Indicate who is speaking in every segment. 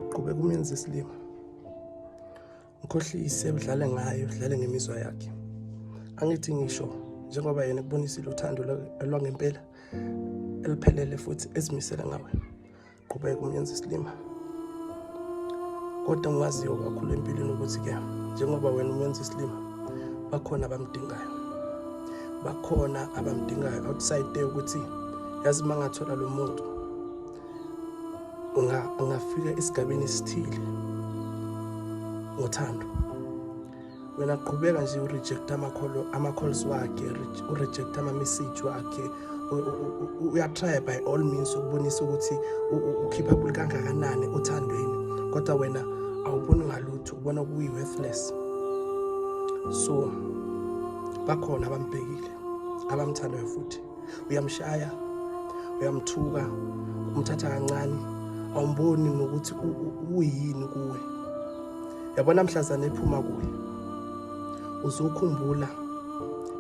Speaker 1: Qhubeka umenze isilima. Mkhohlise udlale ngayo, udlale ngemizwa yakhe. Angithi ngisho njengoba yena kubonisile uthando lwangempela eliphelele futhi ezimisele ngawe. Qhubeka umenze isilima. Kodwa ngiwaziyo kakhulu empilweni ukuthi ke njengoba wena umenze isilima bakhona abamdingayo. Bakhona abamdingayo outside there ukuthi yazi mangathola lo muntu ngafika esigabeni esithile ngothando wena qhubeka nje urejecta amakholo ama-calls wakhe urejecta ama-message wakhe uyatrya by all means ukubonisa ukuthi ukhipha kuli kangakanani othandweni kodwa wena awuboni ngalutho ubona kuyi-worthless so bakhona abambhekile abamthandayo futhi uyamshaya uyamthuka umthatha kancane awumboni nokuthi uyini kuwe yabona mhlazane ephuma kuye uzokhumbula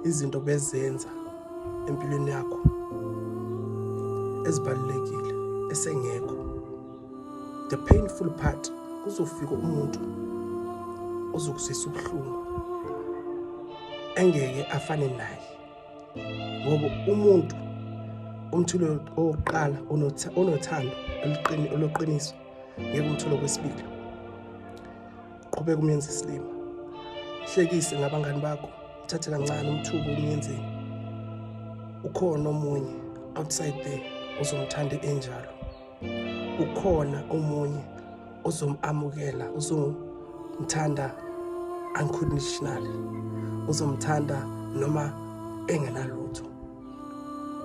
Speaker 1: izinto bezenza empilweni yakho ezibalulekile esengekho the painful part kuzofika umuntu ozokuzisa ubuhlungu engeke afane naye ngoba umuntu umthulo owokuqala onothando oluqiniso ngeke umthulo kwesibili qhubeka umyenza isilima hlekise ngabangani bakho uthathe kancane umthuko umyenzeni ukhona omunye outside there uzomthanda enjalo ukhona omunye ozomamukela uzomthanda unconditionally uzomthanda noma engenalutho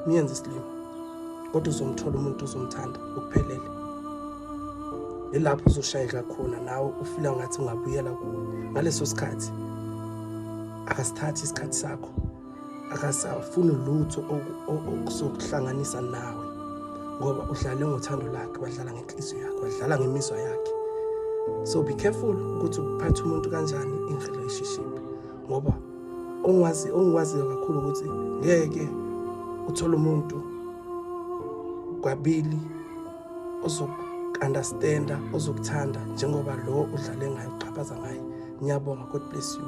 Speaker 1: niyenze isilima kodwa uzomthola umuntu uzomthanda ukuphelele yilapho uzoshayeka khona nawe ufila ngathi ungabuyela kuwe ngaleso sikhathi akasithathi isikhathi sakho akasafuni lutho okuzokuhlanganisa nawe ngoba udlale ngothando lakhe wadlala ngenhliziyo yakhe wadlala ngemizwa yakhe so be careful ukuthi uphathe umuntu kanjani in relationship ngoba ongazi ongiwaziyo kakhulu ukuthi ngeke uthole umuntu kwabili ozoku-understanda ozokuthanda njengoba lo udlale ngayo uxhaphaza ngaye ngiyabonga god bless you